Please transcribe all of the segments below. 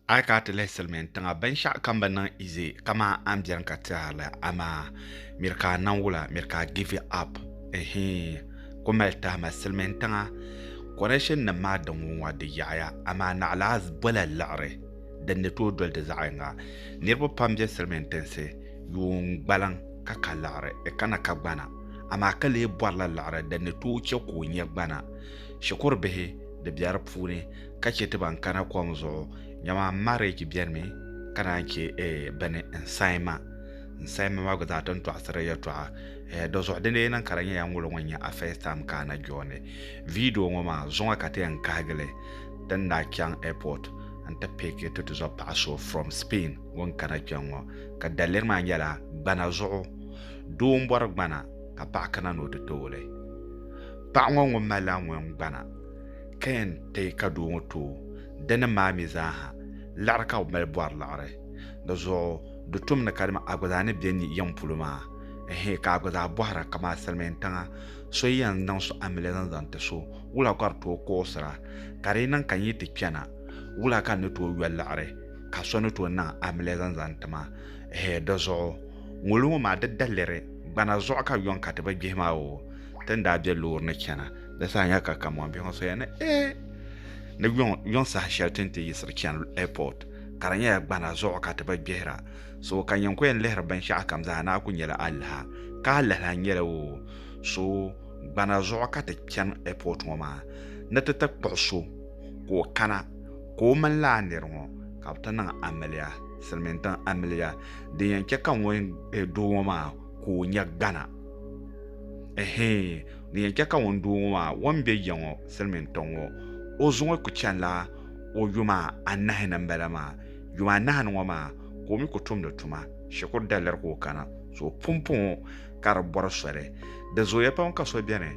A yi kana ti lihi silmiin tiŋa binshaɣu kam bi niŋ izi kamani a ni biɛni ka tɛhiri li amaa miri ka a niŋ wula miri ka a give it up ɛhii ku mali tahima silmiin tiŋa konɛshin nim maa din wuŋ ŋɔ di yaɣaya amaa naɣila a bɔla liɣiri din ni tooi doli di zaɣ yinga niraba pam bɛ silmiin tinsi yuun gbaliŋ ka ka liɣiri di kana ka gbana amaa ka lee bɔrila liɣiri din ni tooi chɛ ka o nyɛ gbana shikuru bihi di bɛ di puuni ka chɛ ti ban kana kom zuɣu nyama marriage bɛnimi ka naan chɛ eh, bini n sayima n sayima maa gba zaa ti ni tɔɣisiri yɛtɔɣa eh, do zuɣu dini niŋ ka di nyɛ ya ŋolo ŋɔ nyɛ a first time ka a na jooni video ŋɔ maa zuŋa ka ti yɛn kahigili ti ni daa chaŋ airport n ti piki ti tizɔ paɣa so from Spain ŋun kana kpɛŋ ŋɔ ka daliri maa nyɛla gbana zuɣu doo n bɔri gbana ka paɣa kana ni o ti tooli paɣa ŋɔ ŋun malila ŋun gbana Ka yɛn ti ka doo ŋɔ tooi dinim maa mi zaa ha, liɣiri ka bɛ mali bɔri liɣiri. Di zuɣu di tom ni kadama a gba zaa ni be ni yiŋ polo maa, ɛhɛɛ, ka a gba zaa bɔhira kaman a silimiin tiŋa so yi yɛn niŋ so amiliya zaŋ zaŋ ti so, wula ka di tooi kuɣisira? Ka di yi niŋ ka n yi ti chana, wula ka n ni tooi yɔ liɣiri ka so ni tooi niŋ amiliya zaŋ zaŋ ti ma? Ɛhɛɛ, di zuɣu ŋolo ŋɔ maa di daliri gbana zuɣu ka yɔŋ ka ti bi gbihi ma oo. Ti ni daa be loori ni chana. di saha nya ka Kamɔn biɛŋ soya ni ee ni yuŋ saha shɛli ti ni ti yiɣisiri chani ɛpɔt ka di nyɛla gbana zuɣu ka ti bi gbihira so ka nyin ku yɛn lihiri binshɛɣu kam zaa ni a ku nyɛla alaha ka alaha nyɛla o so gbana zuɣu ka ti chani ɛpɔt ŋɔ maa ni ti ti kpuɣi so ka o kana ka o mini laa nir ŋɔ ka bi ti niŋ amiliya silmiin tiŋ amiliya din yɛn chɛ ka ŋun doo ŋɔ maa ka o nya gbana ɛhɛn Di yɛn chɛ ka ŋun doo ŋɔ maa o ni be ya ŋɔ silimiintɔŋ ŋɔ, o zuŋɔ ku chanila o yuma anahi ni m-bala maa. Yuma anahi ni ŋɔ maa ka o mi ku tumdi tuma. Shikuru daliri ka o kana, so pumpɔŋɔ ka di bɔri soli. Di zooya pam ka so beni,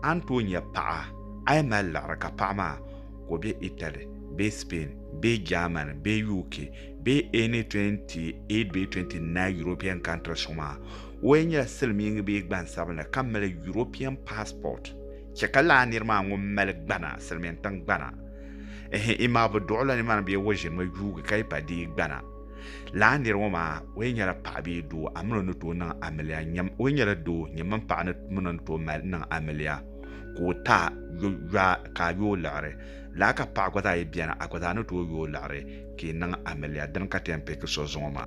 a ni tooi nya paɣa, a yɛn mali liɣiri ka paɣa maa ka o be Italy bee Spain bee Germany bee UK bee any 28 bee 29 European countries ŋɔ maa. O yɛn nyɛla silimiingi bee gbansabinli ka mali European passport, chɛ ka lala nir maa ŋun mali gbana, silimiin tiŋ gbana, ehe, imaa bɛ duɣi la nimaani bee o ʒinimi yuugi ka yi pa deei gbana. Lala nir ŋɔ maa, o yɛn nyɛla paɣa bee doo, a min o ni tooi niŋ amiliya, nyam, o yɛn nyɛla doo, nyam mini paɣa ni min o ni tooi mali niŋ amiliya, ka o ta yo, yɔa, ka a yo o liɣiri. Lala ka paɣa gba zaa yi beni, a gba zaa ni tooi yo o liɣiri, ka yi niŋ amiliya. Dini ka ti yɛn piki so zuŋɔ maa?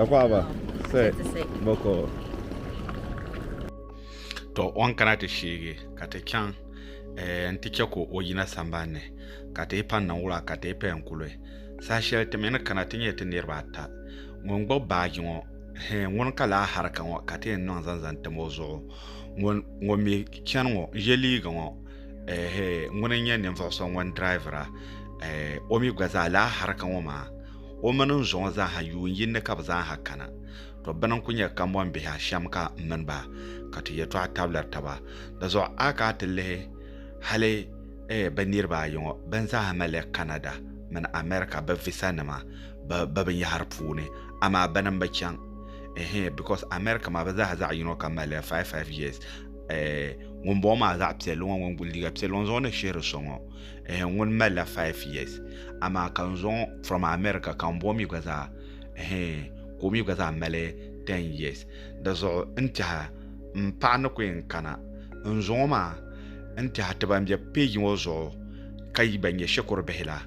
Akwaaba, sɛ, bɔkɔ. To o ni kana ti sheegi ka ti chaŋ eh, nti chɛ ka o yina sambani ni, ka ti yi pa niŋ wula ka ti yi paya n-kuli. Saha shɛli ti mi ni kana ti nyɛ ti niriba ata. Ŋun gbubi baaji ŋɔ, hɛ, ŋuni ka lahi hariga ŋɔ ka ti yɛn niŋ zaŋ zaŋ tam o zuɣu? Ŋun, ŋun mi chani ŋɔ, n-ye liiga ŋɔ. ŋuni n-nyɛ ninvuɣ so ŋun dirayivira o mi gba zaa lala harika ŋɔ maa o mini n zuɣu zaa ha yuun yini ni ka bɛ zaa ha kana. Tɔ! Bɛ ni n-kul nyɛ kambɔnbihi a shɛm ka m mini ba ka ti yɛtɔɣa tabili taba. Di zuɣu a ka a ti lihi hali bɛ niriba ayi ŋɔ bɛn zaa ha malila Kanada mini Amɛrika bɛ visanima bɛ binyɛhiri puuni, amaa bɛ ni m-bi chaŋ. Ɛɛhɛɛ, bikos Amɛrika maa bɛ zaa ha zaɣ yino kam malila five-five years. eh, ŋun bɔŋɔ maa zaɣ piɛlli ŋɔ ŋun guli liiga piɛlli ŋɔ zuɣu ni shihiri so ŋɔ eh, ŋun malila 5 years amaa ka n zuɣu from america ka n bɔŋɔ mi gba zaa eh, ka o mi gba zaa mali 10 years di zuɣu n tiɛha n paɣa ni ku yɛn kana n zuɣu maa n tiɛha ti ban bɛ peji ŋɔ zuɣu ka yi ban nyɛ shikuru bihi la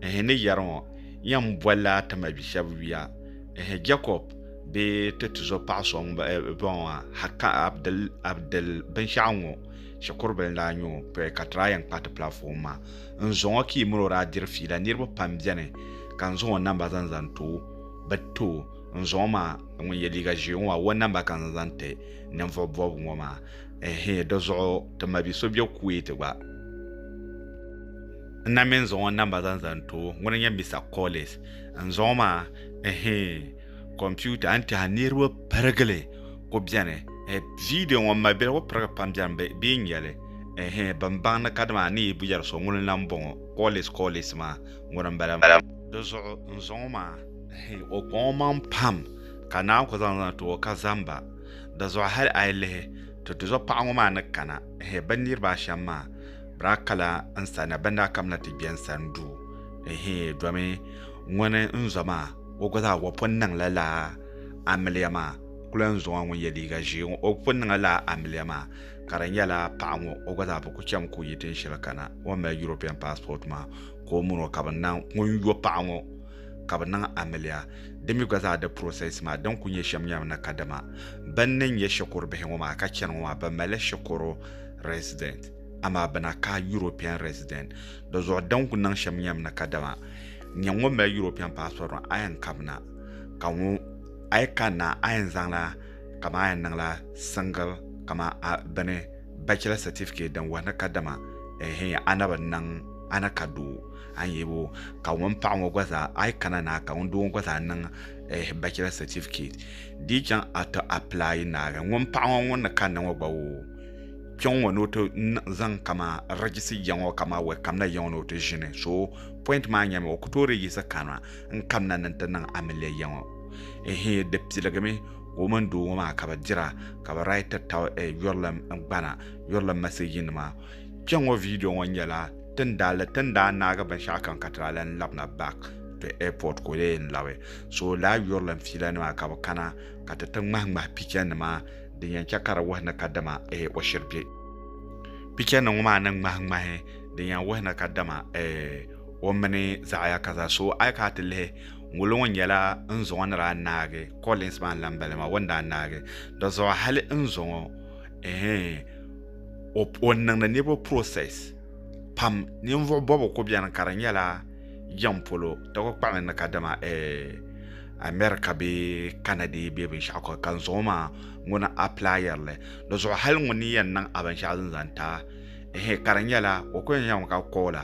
eh, ni yɛri ŋɔ yɛn bolila ti mabi shɛba yuya eh, jacob bee ti tizo paɣa so bɔŋɔ ha haka abdil abdil binshɛɣu ŋɔ shikuru bila daa nyɛ o pɛ ka tira yɛn kpa ti platform maa n zuŋɔ ka yi mini o daa diri fiila niriba pam bɛni ka n zaŋ o namba zaŋ zaŋ too bi too n zuŋɔ maa ŋun yɛ liiga ʒee ŋɔ maa o namba ka n zaŋ zaŋ ti ninvuɣu bɔbigu ŋɔ maa ɛhɛ di zuɣu ti ma bi so bɛ kuwait gba n na mi n zaŋ o namba zaŋ zaŋ too ŋuni n nyɛ Mister Collins n zaŋɔ maa ɛhɛin computer n tɛha niriba pirigili ku bɛni eh, video ŋɔ mali bɛli ku pirigi pam bɛni bɛ bɛ nyɛli ɛhɛin eh, bin baŋ ni kadama ni yi yɛri so ŋuni lan bɔŋɔ kɔɔlis kɔɔlis maa ŋuni n bala di zuɣu n zaŋɔ maa ɛhɛin eh, o kpaŋɔ maŋ pam ka naa ku zaŋ zaŋ ti o ka zamba di zuɣu hali a yi lihi ti ti zuɣu paɣa ŋɔ maa ni kana ɛhɛin eh, bin niriba ashɛm maa bɛ daa kala n sani bɛ ni daa kamina ti gbɛ n sani duu Ɛhee, domi ŋuni n-zo maa, o gba zaa o pun niŋla laa amiliya maa, kula n-zo ŋɔ ŋun ye liiga ʒee ŋɔ, o pun niŋla laa amiliya maa, ka di nyɛla paɣa ŋɔ o gba zaa bi ku cham ka o yi tin shɛli kana, o ni mali European passport maa ka o mini o ka bɛ niŋ, ŋun yo paɣa ŋɔ ka bɛ niŋ amiliya, di mi gba zaa di process maa din kuli nyɛ shɛm nyɛla ni kadama bɛ ni nyɛ shikuru bihi ŋɔ maa ka chani ŋɔ maa bɛ malila shikuru resident. amaa bɛ na ka European resident. Di zuɣu din ku niŋ shɛm nyɛm ni kadama n nyɛ ŋun mali European passport ŋɔ a yɛn kabina ka ŋu a yi kanna a yɛn zaŋla kaman a yɛn niŋla single kaman a bini bachelor certificate din wuhi ni kadama ehe a na bi niŋ a ni ka doo a ni yebo ka ŋun paɣa ŋɔ gba zaa a yi kana na ka ŋun doo ŋɔ gba zaa niŋ ehe bachelor certificate di yi chaŋ a ti apply naagi ŋun paɣa ŋɔ ŋun ni kanna ŋɔ gba o kpɛŋ ŋɔ ni o ti zaŋ kama rɛgisi ya ŋɔ kama wɛ kamina ya ŋɔ ni o ti ʒini so pɔint maa nyɛmi o ku toori yiɣisi kana n kamina ni n ti niŋ amiliya ya ŋɔ ehe di piligimi ka o mini doo ŋɔ maa ka bi dira ka bi raiti tab yurilim gbana yurilim maseji nima kpɛŋ ŋɔ viidiyo ŋɔ nyɛla tin daa li tin daa naagi binshɛɣu kam ka ti daa lan labina back to airport ka o lee yɛn labi so laa yurilim fiila nima ka bi kana ka ti ti ŋmahi ŋmahi picha nima din yɛn chɛ ka di wuhi ni kadama o shiri bɛ picha ni ŋɔ maa ni ŋmahi ŋmahi din yɛn wuhi ni kadama o mini zaɣaya ka zaa so a yi kana ti lihi ŋolo ŋɔ nyɛla n zuŋɔ ni daa naagi Collins maa n-lan bala maa o ni daa naagi dɔzuɣu hali n zuŋɔ o niŋdi niriba process pam ninvuɣ bɔbigu kuli beni ka di nyɛla jɛm polo di kuli kpahimi ni kadama America bee Canada bee binshɛɣu ka ka n zaŋ o maa ŋuni aplayiri li di zuɣu hali ŋuni ni yɛn niŋ a binshɛɣu din zaŋ ti a ehe ka di nyɛla o ku yɛn yɛlimi ka koola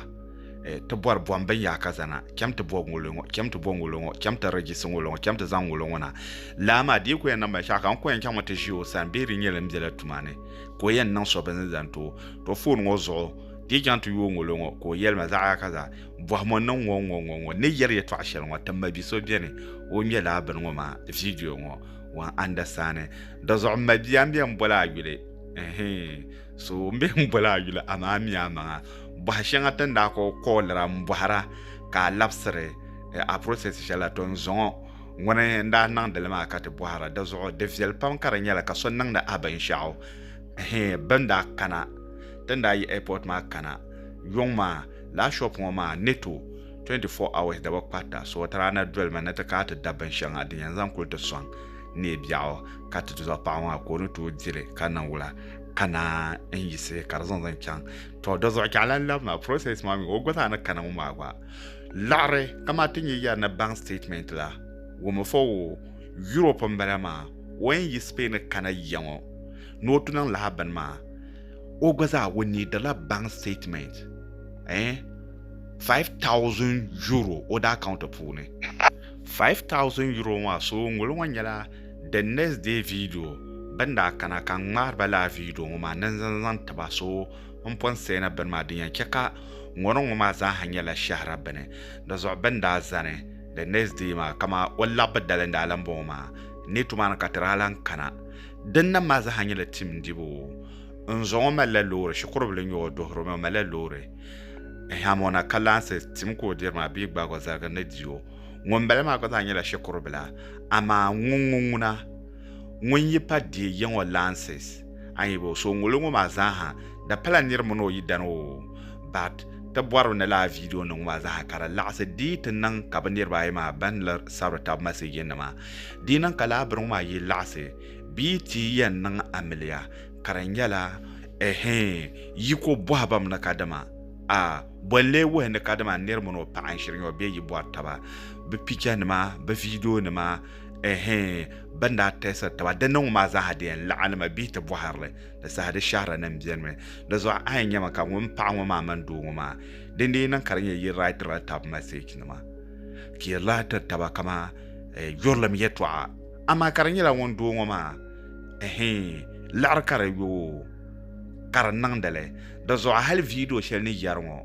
eh, ti bɔri bɔm bin yaa ka zana chɛm ti bɔ ŋolo ŋɔ chɛm ti bɔ ŋolo ŋɔ chɛm ti rejisi ŋolo ŋɔ chɛm ti zaŋ ŋolo ŋɔ na laa maa di yi ku yɛn niŋ binshɛɣu ka n ku yɛn chaŋmi ti ʒi o sani bee di nyɛla n bela tuma ni ka o yɛn niŋ so bin zaŋ ti o to foon ŋɔ zuɣu di yi chaŋ ti yooi ŋolo ŋɔ ka o yɛlima zaɣa ka za bɔhimo n niŋ ŋɔ ŋɔ ŋɔ ŋɔ ni yɛri yɛtɔɣa shɛli ŋɔ ti mabi so bɛni o ŋmɛla a bini ŋɔ maa viidiyo ŋɔ wan andasaani di zuɣu n mabia n bɛ n boli a yuli so n bɛ n boli a yuli amaa mi a maŋa bɔha shɛŋa ti ni daa kɔɔ kɔɔlira n bɔhira ka a labisiri eh, a process shɛli la to n zɔŋɔ ŋuni n daa niŋdili maa ka ti bɔhira di zuɣu di viɛli pam ka di nyɛla ka so niŋdi a binshɛɣu bin daa kana ti ni daa yi airport maa kana yɔŋ maa Laa shop ŋɔ maa Neto 24 hours da bi kparita so ti daa na dolimi ni ti kana ti da binshɛŋa din yɛn zaŋ kuli ti sɔŋ neei biɛɣu ka ti zuɣu paɣa maa ka o ni tooi dili ka niŋ wula ka naan n yisi ka di zaŋ zaŋ chaŋ to di zuɣu chɛɣu lan labi maa process maa mi o gba zaa ni kana ŋɔ maa gba laɣiri kamani ti nyɛ yɛri ni bank statement la wumi fo wo Europe n bala maa o yɛn yi Spain kana yiya ŋɔ ni o tu niŋ lahabini maa o gba zaa o needila bank statement eh 5000 euro o da account puuni 5000 euro maa so ŋolo ŋo nyɛla the next day video bin daa kana ka n ŋmaari ba laa video ŋo maa ni n zaŋ zaŋ tiba so n pun seena bini maa din yɛn chɛ ka ŋɔni ŋo maa zaaha nyɛla shɛhira bini di zuɣu bin daa zani the next day maa kama o labbi dali n daa lan bɔŋɔ maa ni tumaani ka ti daa lan kana Din nam maa zaa nyɛla tim dibu. N zɔ ŋɔ malila loori, shikuru bila n-nyɛ o, o duhiri o mi, o malila loori. Ɛhɛm, o na kalaŋsi, tim ka o diri maa bee gbaagi o zaligi ni di o. Ŋun bala maa gba zaa nyɛla shikuru bila. Amaa ŋun ŋɔ ŋuna, ŋun yi pa deei yiŋ o laŋsi, a yi bo, so ŋuli ŋɔ maa zaa ha, di pala niri mini o yidana o. But, ti bɔri mi ni lala video nim ŋɔ maa zaa ha ka di laɣisi deei ti niŋ ka bi niriba ayi maa ban ni sabiri tab message nima Di niŋ ka laa biriŋ maa yi laɣisi bia ti yɛn niŋ amiliya ka di nyɛla, Ɛhee, yi ko bɔhibam ni kadama, A, bɔ n-lee wuhi ni kadama n niri mini o paɣa n-shiri nyɔ bee yi bɔri taba bɛ pichanima, bɛ viidionima, ɛhee, bɛ ni daa tɛɛsiri taba di niŋbu maa zaaha di yɛn laɣinimi bia ti bɔhiri li, di saha di shɛhirinin benimi. Di zuɣu a yɛn nyami ka ŋun paɣa ŋɔ maa mini doo ŋɔ maa, dindin yi niŋ ka di nyɛ yi raitiri la taba masechinima, fiirila tiri taba kaman eh, yurilim yɛtɔɣa amaa ka di nyɛla ŋun doo ŋɔ maa ɛhɛn liɣiri ka di yoo ka di niŋdili di zuɣu hali viidiyo shɛli ni yɛri ŋɔ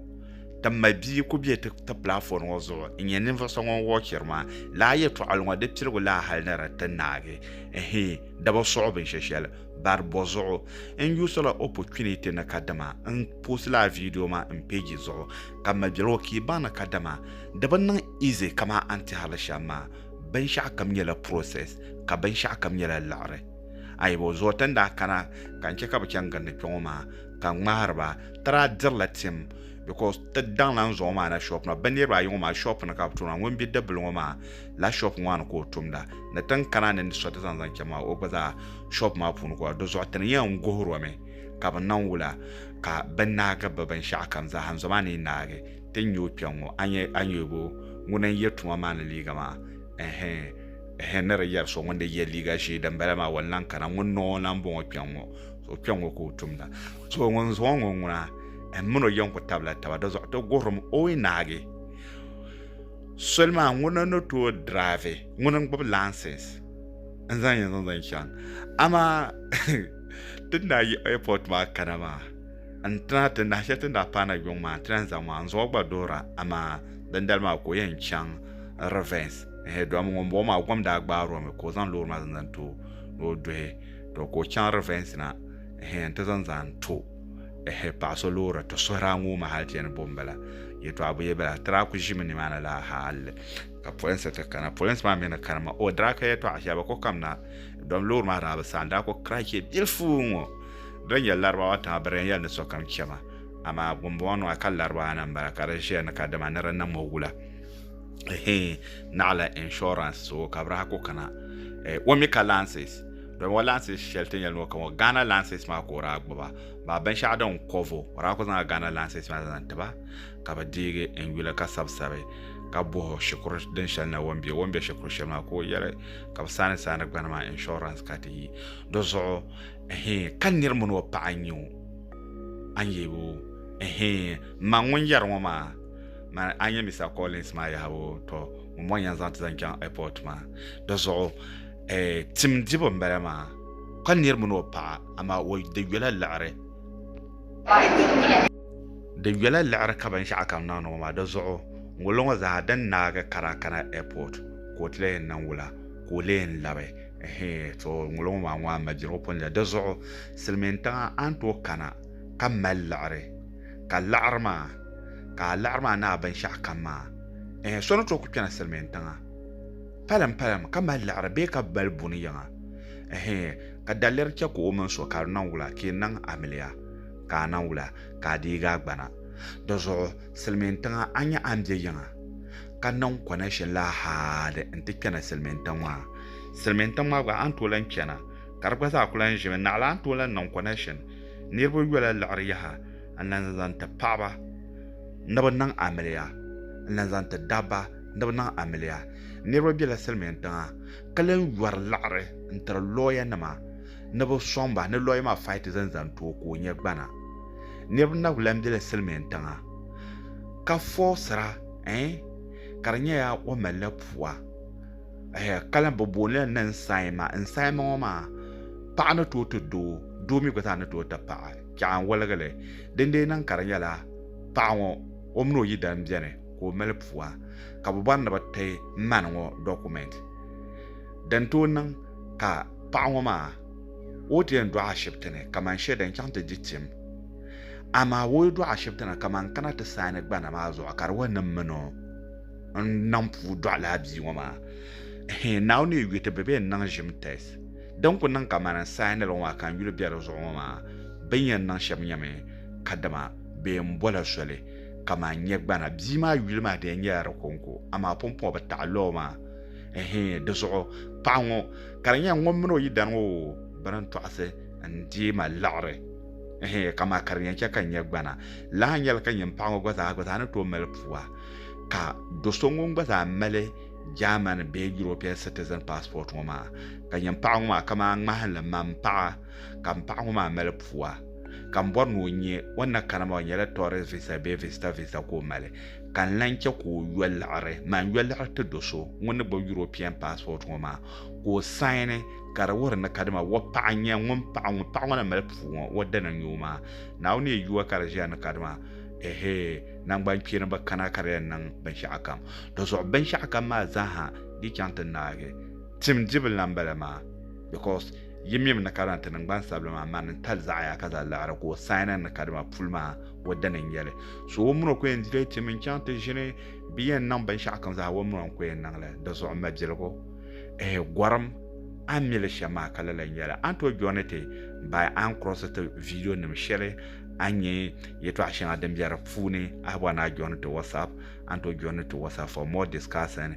ti ma bia ku bɛ ti ti platform ŋɔ zuɣu n nyɛ ninvuɣu so ŋun wɔchiri maa laa yɛtɔɣali ŋɔ di piligu laa hali ni di ti naagi ɛhɛn di bi suɣu binshɛshɛli bari bɔ zuɣu n yuusila opportunity ni kadama n post laa viidiyo maa n page zuɣu ka m mali biɛligu o kii baŋ ni kadama di bi niŋ easy kaman a ni ti hali shɛm maa. Binshɛɣu kam nyɛla process ka binshɛɣu kam nyɛla liɣiri. Ayibo zuɣu ti ni daa kana ka n chɛ ka bɛ chaŋ gindi kpɛŋɔ maa ka n ŋmahiri ba, ti daa dirila tim because ti daŋla n zuɣu maa na shop na. Bɛ niriba ayi ŋɔ maa shop ni ka bɛ tumda. Ŋun be dibbil ŋɔ maa la shop ŋɔ maa ni ka o tumda. Ni ti ni kana ni n ti sɔri ti zaŋ zaŋ chaŋ maa o gba zaa shop maa puuni ka o daa. Di zuɣu ti ni yɛn guhir o mi. ka bɛ niŋ wula ka bɛ naagi bɛ binshɛɣu kam zaa n-zom a ni yi naagi ti nya o kpiɔŋ ŋɔ? A nya ayubu ŋuna n-ye tuma maa ni liiga maa? Ɛhɛ! Ɛhɛ! Ni di yɛri so ŋun di ye liiga ʒee dimbala maa, o ni lan kana. Ŋun niŋ o lan bɔŋɔ kpiɔŋ ŋɔ? So kpiɔŋ ŋɔ ka o tumda. So ŋun zaŋ o ŋɔ ŋuna n min o yɛn ku tabila taba. Di zuɣu ti guhiri mi o yi naagi soli maa ŋuna ni tooi diraavi, ŋuna n-gbibi laansinsi n-zaŋ yi zaŋ zaŋ chaŋ. Amaa! ti ni daa yi airport maa kana maa n tuna ti nahi shɛli ti ni daa paai na yuŋ maa n ti lahi zaŋ maa n zuɣu gba doora amaa dindali maa ka o yɛn chaŋ revens ɛhɛn dama ŋunbɔŋɔ maa gom daa gbaari o mi ka o zaŋ loori maa zaŋ zaŋ ti o ni o duhi to ka o chaŋ revens na ɛhɛn n ti zaŋ zaŋ to ɛhɛ paɣa so loori ti suhuri a ŋɔ maa hali ti yɛn ni bo n bala yɛtɔɣa bi yɛ bala ti daa ku ʒimi nimaani la hali ka polinsi ti kana polinsi maa mi ni kana ma o daa ka yɛtɔɣa shɛli bi ku kam na dɔm loori maa daa bi saɣam daa ku kira chɛ bilifu ŋɔ din nyɛ laribawa tiŋa bi daa yɛli ni sokam chɛma amaa ŋunbɔŋɔ nɔya ka laribawa na n-bala ka di ʒiya ni ka dama ni di niŋ ma wula ehe naɣila insurance so ka bi daa ku kana eh, o mi ka lances dɔmi o lances shɛli ti nyɛli ni o kam o Ghana lances maa ka o daa gbuba maa binshɛɣu din kɔvo o daa ku zaŋla Ghana lances maa zaŋ tiba ka bi deegi n yuli ka sabisabi ka boho shikuru din shɛli na wɔn bɛ wɔn bɛ shikuru shɛli maa ka o yɛli ka bi saani saani gbani maa insurance ka ti yi di zuɣu ɛhɛn ka niri mini o paɣa n nyɛ o an yɛ o ɛhɛn ma ŋun yɛri ŋɔ maa ma an yɛ Mr Collins maa yahabu tɔ ŋun bɔn yɛn zaŋ ti zaŋ chaŋ airport maa di zuɣu eh, tim dibu n bala maa ka niri mini o paɣa amaa o di yɔla laɣari Di nyɛla liɣiri ka binshɛɣu kam niŋdi ŋɔ maa di zuɣu ŋunlo ŋɔ zaa din naagi ka daa kana airport ka o ti lee niŋ wula ka o lee labi ɛhɛɛ to ŋunlo ŋɔ maa ŋɔ a maligu pun di zuɣu silimiin tiŋa a ni tooi kana ka mali liɣiri ka liɣiri maa ka a liɣiri maa ni a binshɛɣu kam maa ɛhɛɛ so ni tooi kuli kpɛna silimiin tiŋa palim palim ka mali liɣiri bee ka mali buni yiŋa ɛhɛɛ. Ka daliri chɛ ka o mini so ka di niŋ wula ka yi niŋ amiliya, ka a niŋ wula ka a deegi a gbana. Di zuɣu silimiin tiŋa a nya a ni be yiŋa ka niŋ connection la haadi n ti kpɛna silimiin tiŋ maa. Silimiin tiŋ maa gba a ni tooi lahi kpɛna ka di gba zaa kuli lahi ʒimi naɣila a ni tooi lahi niŋ connection niriba yola liɣiri yaha n lahi zaŋ ti paɣaba ni bɛ niŋ amiliya n lahi zaŋ ti dabba ni bɛ niŋ amiliya. Niriba bela silimiin tiŋa. ka lan yɔri liɣiri n-tiri lɔyanima ni bɛ sɔŋ ba ni lɔya maa faiti zani zaŋ ti o ka o nya gbana. Niriba na lan be la Silimin tiŋa ka fɔɔsira ɛɛn ka di nyɛla o malila pua ɛhɛ ka lan bɛ booni la ni n-saima. N-saima ŋɔ maa paɣa ni tooi ti doo, doo mi gba zaa ni tooi ti paɣa. Chɛɣu n-woligi li dindee niŋ ka di nyɛla paɣa ŋɔ o mini o yidana beni. ka o mali pua ka bɛ bɔri ni bɛ ti ma ni ŋɔ dɔkumɛnti din tooi niŋ ka paɣa ŋɔ maa o ti yɛn dɔɣi ashibiti ni kamani shɛli din chaŋ ti di tim amaa o yi dɔɣi ashibiti ni kamani kana ti saani gbana maa zuɣu ka di wa niŋ mi ni o n-niŋ puu dɔɣi lala bia ŋɔ maa hii Naawuni yi yu ti bɛ bɛ yɛn niŋ ʒim tɛs din ku niŋ kamani n saani li ŋɔ maa ka n yuli be di zuɣu ŋɔ maa bɛ ni yɛn niŋ shɛm nyɛmi kadama bɛ yɛn bɔla soli kaman nyɛ gbana. Bia maa yuli maa di yɛn nyɛla di kɔŋko, amaa pumpɔŋɔ bi taɣi lɔɔ maa. Ɛhɛɛn, di zuɣu paɣa ŋɔ ka di nyɛla ŋun mini o yidana ŋɔ bi ni tɔɣisi n-deei ma liɣiri. Ɛhɛɛn, kamaa ka di yɛn chɛ ka n nyɛ gbana lahi nyɛla ka nyin paɣa ŋɔ gba zaa gba zaa ni tooi mali pua ka do so ŋun gba zaa mali German bee European citizen passport ŋɔ maa. Ka nyin paɣa ŋɔ maa kaman ŋmahinli man paɣa. ka m paɣa ŋɔ maa mali pua ka m bɔri ni o nya o ni na kana maa o nyɛla tourist visa bee visitor visa ka o mali ka n lan chɛ ka o yɔ liɣiri maan yɔ liɣiri ti do so ŋun ni gbubi European passport ŋɔ maa ka o saini ka di wuhiri ni kadama o paɣa n-nyɛ ŋun paɣa ŋun paɣa ŋɔ na mali puu ŋɔ o dana n-nyɛ o maa Naawuni yɛn yuwa ka di ʒiya ni kadama ɛhee naŋgbankpeeni bi kana ka di yɛn niŋ binshɛɣu kam dinzuɣu binshɛɣu kam maa zaa ha di chaŋ ti naagi tim dibu lan bala maa because Yi mim ni kadama ti niŋgban sabila maa mani n-tali zaɣaya ka zaa laɣiri ka o saana ni kadama puli maa o dini n-nyɛ li. So o mini o ku yɛn dileei tim n-chaŋ ti ʒini bɛ yɛn niŋ binshɛɣu kam zaa o mini o n-ku yɛn niŋ li. Di zuɣu mabiligu ehe gɔrim a ni mi li shɛm maa ka lala n-nyɛ li. A ni tooi jɔni ti baai a ni kurɔsi ti viidiyo nim shɛli a ni nya yɛtɔɣa shɛŋa din be di puuni a bɔri ni a jɔni ti WhatsApp a ni tooi jɔni ti WhatsApp for more discussing.